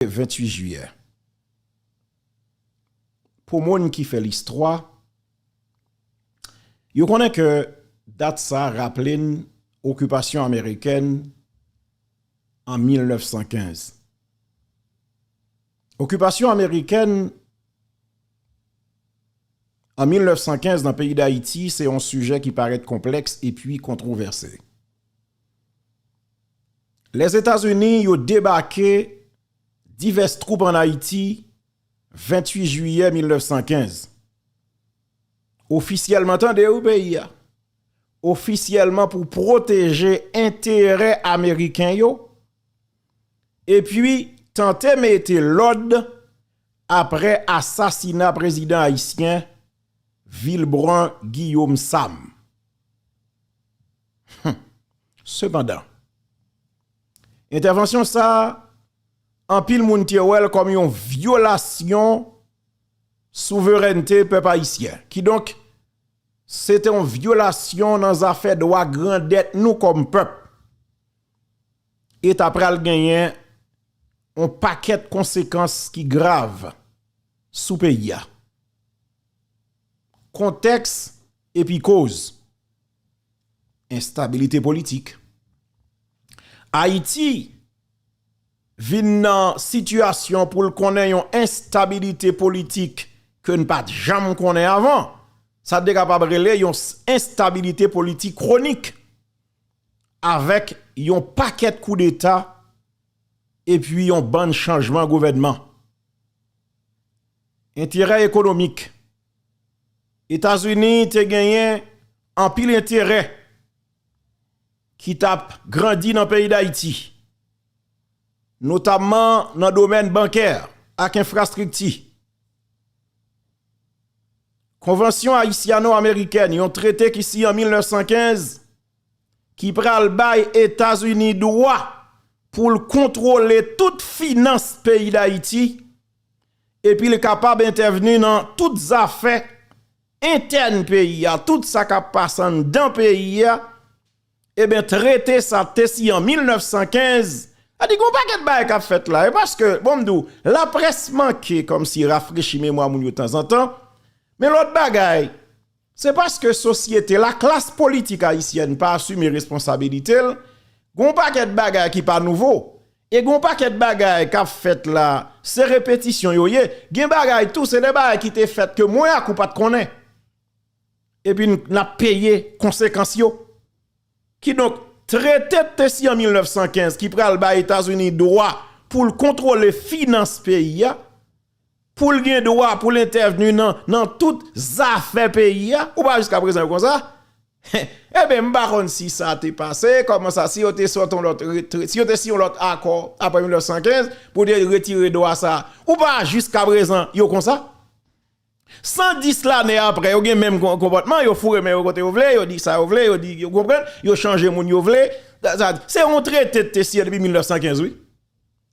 28 jiyè Pou moun ki fè listwa, yo konnen ke dat sa raple n okipasyon amerikèn an 1915. Okipasyon amerikèn an 1915 nan peyi Dayiti se yon sijè ki parèt konplèks epi kontwovèse. Lèzetazini yo debake divès twoup ann Ayiti 28 jiyè 1915. Ofisyèlman, tande wi peyi a, ofisyèlman pou pwoteje enterè ameriken yo epi tante mete lòd aprè asasina prezidan ayisyen Vilbrun Guillaume Sam. Hum! Sepandan, entèvansyon sa a, anpil moun te wè l kòm yon vyolasyon souverènte pèp ayisyen. Kidonk, se te yon vyolasyon nan zafè dwa grandèt nou kòm pèp. E ta pral genyen yon pakèt konsekans ki grav sou peyi a. Kontèks epi koz, Enstabilite politik. Ayiti vin nan sitiyasyon pou l konnen yon enstabilite politik ke n pa t janm konnen avan. Sa te kapab rele yon enstabilite politik kwonik. Avèk yon pakèt koudeta epi yon bann chanjman gouvènman. Enterè ekonomik. Etazini te genyen anpil enterè ki t ap grandi nan peyi Dayiti, notamman nan domèn bankè ak enfrastrikti. Konvansyon ayisyano-amerikèn, yon trete ki siyen an 1915, ki pral bay Etazini dwa pou l kontwole tout finans peyi Dayiti, Epi l kapab entèvni nan tout zafè entèn peyi a, tout sa k ap pase anndan peyi a, eben trete sa te siyen an 1915, sa di gen yon pakèt bagay k ap fèt la, e paske, bon m di w, laprès manke kòmsi rafrechi memwa moun yo tanzantan, men lòt bagay. Se paske sosyete, laklas politik ayisyèn pa asime responsabilite l, gen yon pakèt bagay ki pa nouvo, e gen yon pakèt bagay k ap fèt la, se repetisyon yo ye, gen bagay tou se de bagay ki te fèt ke mwen ak ou pa t konnen, epi n ap peye konsekans yo. Kidonk, trete k te siyen an 1915 ki pral bay Etazini dwa pou l kontwole finans peyi a, Pou l gen dwa pou l entèvni nan nan tout zafè peyi a, ou pa jiska prezan yo konsa? Eben m pa konn si sa te pase, kòman sa, si yo te sot yon lòt retre, si yo te si yon lòt akò aprè 1915 pou te retire dwa sa, ou pa jiska prezan yo konsa? 110 lane aprè yo gen menm konpòtman, yo foure men yo kote yo vle, yo di sa yo vle, yo di, ou konprann, yo chanje moun yo vle, se yon trete te siyen depi 1915 wi.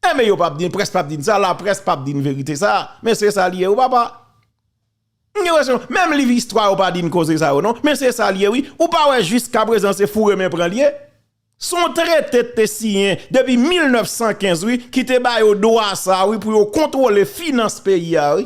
Eh men yo pap di, près pap di sa, la près pap di verite sa, men se sa li ye wi papa. M gen presyon, menm liv istwa yo pa di koze sa yo non, men se sa li ye wi, ou pa wè jiska prezan se foure men pran li ye. Se yon trete te siyen depi 1915 wi ki te ba yo dwa sa wi pou yo kontwole finans peyi a wi.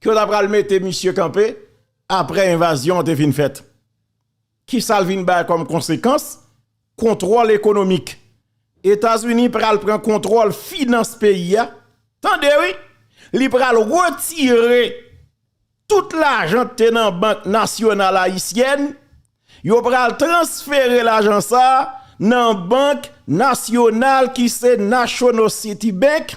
Ke yo ta pral mete misye kanpe apre envazyon an te fin fèt. Ki sa l vin bay kòm konsekans? Kontwòl ekonomik. Etazini pral pran kontwòl finans peyi a. Tande wi! Li pral retire tout lajan k te nan bank nasyonal ayisyèn, yo pral transfere lajan sa nan bank nasyonal ki se Nationocitibank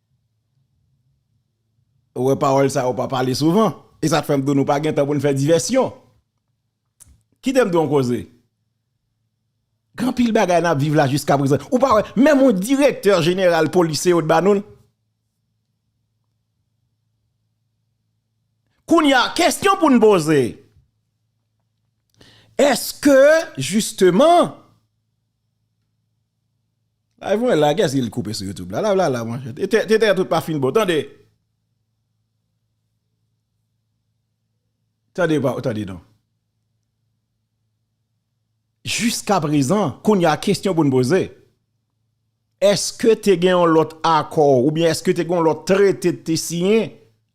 Ou wè pawòl sa yo pa pale souvan. E sa k fè m di w nou pa gen tan pou n fè divèsyon. Kite m di w yon koze. Gen anpil bagay n ap viv la jiskaprezan. Ou pa wè menm yon direktè jeneral polis se yo t ba nou l. Kounye a, kesyon pou n poze. Eske jisteman Live mwen la kèski li koupe sou YouTube la live la la monchè tete tout pa fin bon tande tande pa tande non jiskaprezan kounya kesyon poun poze èske te gen yon lòt akò oubyen èske te gen yon lòt trete te siyen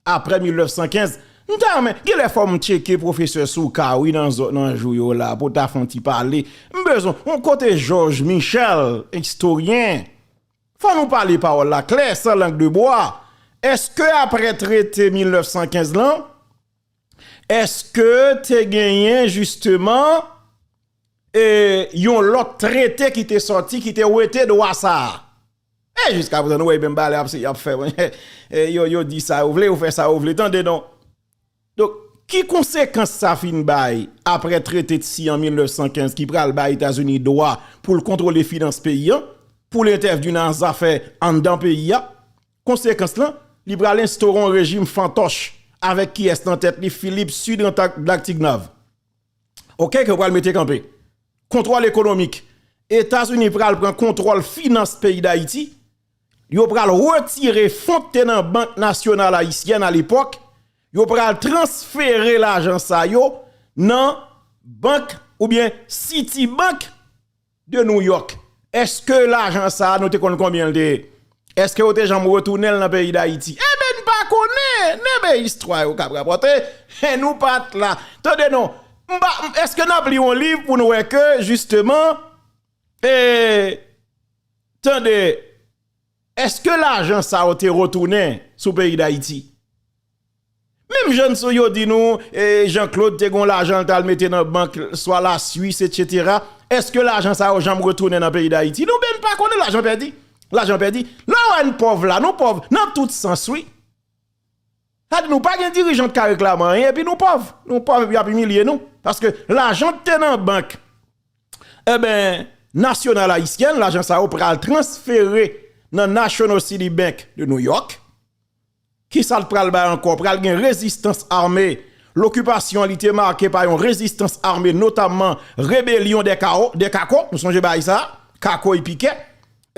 Aprè 1915 m ta renmen genlè fò m tcheke pwofesè Soukar wi nan zòn nan jou yo la pou w ta fè yon ti pale m bezwen w kote Jòj Michèl estoryen fò nou pale pawòl la klè san lang de bwa èske aprè trete 1915 lan èske te genyen jisteman e yon lòt trete ki te sòti ki te wete dwa sa a. E jiska prezan nou wè menm balè ap se yap fè mwen yo yo di sa yo vle yo fè sa yo vle tande non. Donk ki konsekans sa fin bay aprè trete tsi an 1915 ki pral bay Etazini dwa pou l kontwole finans peyi an, pou l entèvni nan zafè anndan peyi a, konsekans lan li pral enstore yon rejim fantòch avèk kiyès nan tèt li Filip Sidran Dlaktignav. ok ke yo pral mete kanpe kontwòl ekonomik etazini pral pran kontwòl finans peyi dayiti yo pral retire fon te nan bank nasyonal ayisyèn alepòk yo pral transfere lajan sa yo nan bank oubyen siti bank de New York eske lajan sa nou te konn konbyen l te ye eske yo te janm retounen l nan peyi dayiti eben n pa konnen nen men istwa yo kap rapòte hen nou pat la tande non m pa eske nap li yon liv pou n wè ke jisteman ee tande eske lajan sa yo te retounen sou peyi dayiti Menm jan sou yo di nou Jean Claude te gon lajan li tal mete nan bank swa la Suisse etc eske lajan sa yo janm retounen nan peyi dayiti nou menm pa konnen lajan pèdi lajan pèdi lè wè n pòv la nou pòv nan tout sans wi sa di nou pa gen dirijan ki ka reklame anyen epi nou pòv nou pòv epi yap imilye nou paske lajan ki te nan bank enben nasyonal ayisyen lajan sa yo pral transfere nan national city bank de New York. Kisa l pral bay ankò? Pral gen rezistans ame. Lokipasyon an li te make pa yon rezistans ame notamman rebelyon dè Kawo, dè Kako, nou sonje bagay sa a, Kako e Pikè.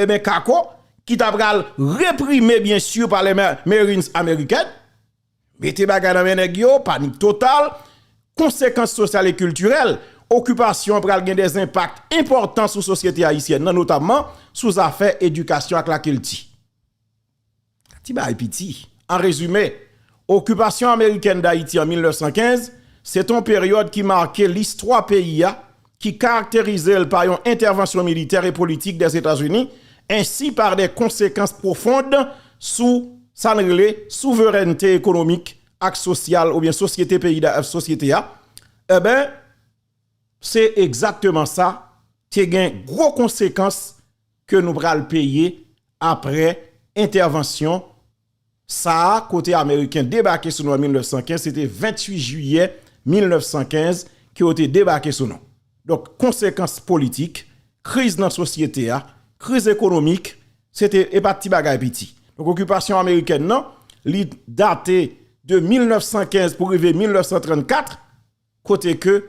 Eben Kako ki ta pral reprime byen si pa lè Marines American. Mete bagay nan men nèg yo, panik total. Konsekans sosyal e kiltirèl, okipasyon an pral gen dè enpak enpòtan sou sosyete ayisyèn nan notamman sou zafè edikasyon ak lakilti. Ti bagay piti. An rezime, okipasyon amerikèn Dayiti an 1915 se te yon peryòd ki make listwa peyi a, ki karakterize l pa yon entèvansyon militè e politik Dèzetazini, ensi pa de konsekans pwofond sou sa n rele souverènte ekonomik ak sosyal oubyen sosyete peyi sosyete a, enben, se egzakteman sa, te gen gwo konsekans. ke nou pral peye apre entèvansyon sa a kote ameriken debake sou nou an 1915, se te 28 jiyè 1915 ke yo te debake sou nou. Donk konsekans politik, kriz nan sosyete a, kriz ekonomik, se te e pa ti bagay piti. Donk okipasyon amerikèn nan, li date de 1915 pou rive 1934, kote ke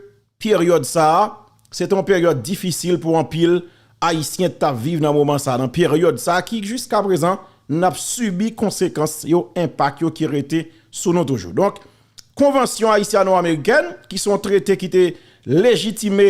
peryòd sa a, se te yon peryòd difisil pou anpil Ayisyen tap viv nan moman sa a, nan peryòd sa a ki jiska prezan nap sibi konsekans yo, enpak yo ki rete sou nou toujou. Donk, Konvansyon Ayisyano-Amerikèn ki se yon trete ki te lejitime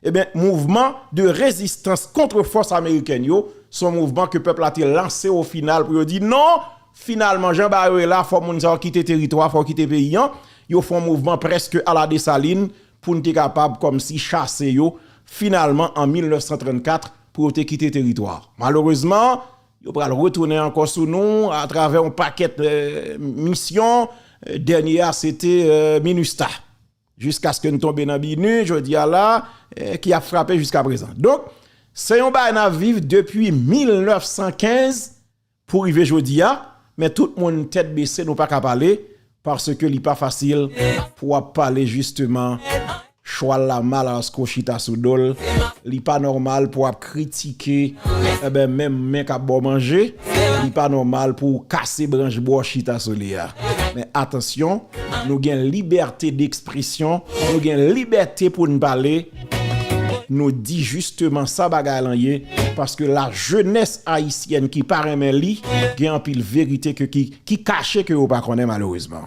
Eben, mouvman de rezistans kontre fòs amerikèn yo, se yon mouvman ke pèp la te lanse o final pou yo di non, finalman jan bagay yo ye la, fò moun sa yo kite teritwa, fò yo kite peyi an, yo fè yon mouvman prèske ala Desalin pou n te kapab kòmsi chase yo finalman an 1934 pou yo te kite teritwa. Malerezman, yo pral retounen ankò sou nou atravè yon pakèt misyon, dènye a se te Minustah. Jiskaske n tonbe nan binu jodi a la ki ap frape jiska prezan. Donk, se yon bagay n ap viv depi 1915 pou rive jodi a, men tout moun tèt bese nou pa ka pale paske li pa fasil pou w ap pale jisteman chwal la mal aske w chita sou do l, li pa nòmal pou w ap. kritike enben menm men kap baw manje li pa nòmal pouw kase branch bro chita sou li a men atansyon nou gen libète dekspresyon nou gen libète poun pale nou di jisteman sa bagay lan ye paske la jenès ayisyèn ki pa renmen li gen anpil verite ke ki kache ke yo pa konnen malerezman.